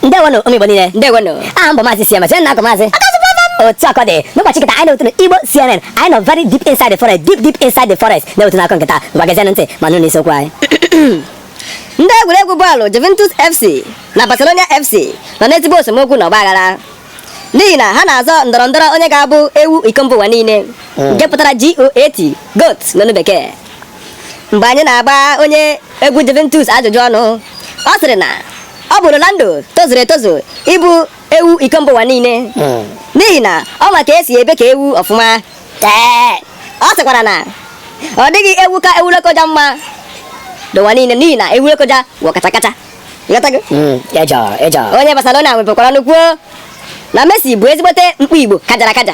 ndewonụ ụmụ Igbo niile ndewonụ aha m bụ maazị Siema Siena akụ maazị otu akụkọ dị n'ụbọchị kịta anyị na-ewetụrụ Igbo CNN anyị nọ very deep inside the forest deep deep inside the forest na-ewetụ unu akụkọ kịta ngwa gezienụ ntị ma nụ n'isiokwu anyị ndị egwuregwu bọọlụ Juventus FC na Barcelona FC nọ n'ezigbo esemokwu na ọgbaghara n'ihi na ha na-azọ ndọrọ ndọrọ onye ga-abụ ewu iko mba ụwa niile nke pụtara GOAT goat n'olu bekee mgbe anyị na-agba onye egwu Juventus ajụjụ ọnụ ọ sịrị na ọ bụ Ronaldo tozuru etozu ịbụ ewu iko mba ụwa niile hmm. n'ihi na ọ ma ka e si ebe ka ewu ọfụma ọ sịkwara na ọ dịghị ewu ka ewu Lokoja mma n'ụwa niile n'ihi na ewu Lokoja wụ kacha kacha hmm, onye Barcelona wepụkwara ọnụ kwuo na Messi bụ ezigbote mkpi Igbo kajara akaja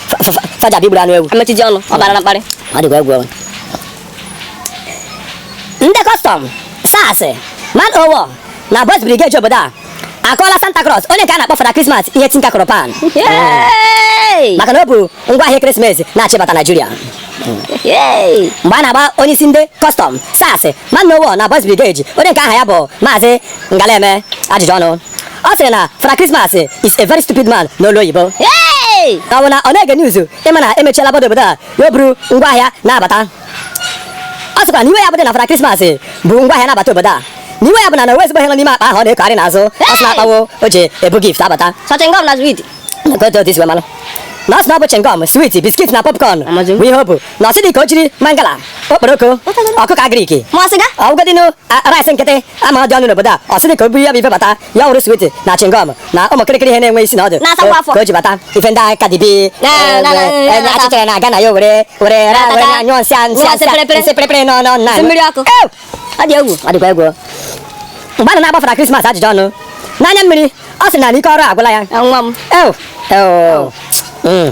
faja bụ igburu anụ ewu amechizi ọnụ ọ bara na mkparị ọ dịkwa egwu ọnwụ ndị Custom SARS Man O' War na Boys Brigade obodo a akụọla Santa Claus onye nke a na-akpọ Fada Christmas ihe tinka kụrụ pan Yay! maka na o bu ngwa ahịa Christmas na-achịbata Nigeria Yay! mgbe a na-agba onye isi ndị Custom SARS Man O' War na Boys Brigade onye nke aha ya bụ maazị ngaleme ajụjụ ọnụ ọ sịrị na Fada Christmas is a very stupid man n'olu oyibo ka ọ bụ na ọ na-ege news ị ma na e mechiela border obodo a ya o buru ngwaahịa na-abata ọ sịkwa na iwe ya bụdị na Fada Christmas bu ngwaahịa na-abata obodo a na iwe ya bụ na na o nwe ezigbo ihe nọ n'ime akpa ahụ ọ na-ekogharị n'azụ ọ sị na akpa ahụ o ji ebu gift abata Sọ chingom na switi. Nke otu otu isi wee malụ. na ọ sị na ọ bụ chingom swit biskit na popcorn Amazing. bụ ihe o bu na ọ sị dị ka o jiri mangala okporoko ọkụkọ agriki ma ọ sịga ọ bụgodinu rice nkịtị a ma ọ dị ọnụ n'obodo a ọ sị dị ka o buru ya bụ ife bata ya wụrụ switi na chingom na ụmụ kịrịkịrị ihe na-enwe isi na ọdụ Na-asakwa afọ. ka o ji bata ife ndị aka dibi Na- na- na- na- na- achịchara na aga na ya were were ra- were Atata. anyụọ nsị a- nsị a- Nsị pịrịpịrị. nsị pịrịpịrị nọ nọ nna Nsị mmiri ọkụ. Ew! ọ dị egwu ọ dịkwa egwu mgbe a na na-agba Fada Christmas ajụjụ ọnụ n'anya mmiri ọ sị na ike ọrụ agwụla ya nwa m ew ew Mm.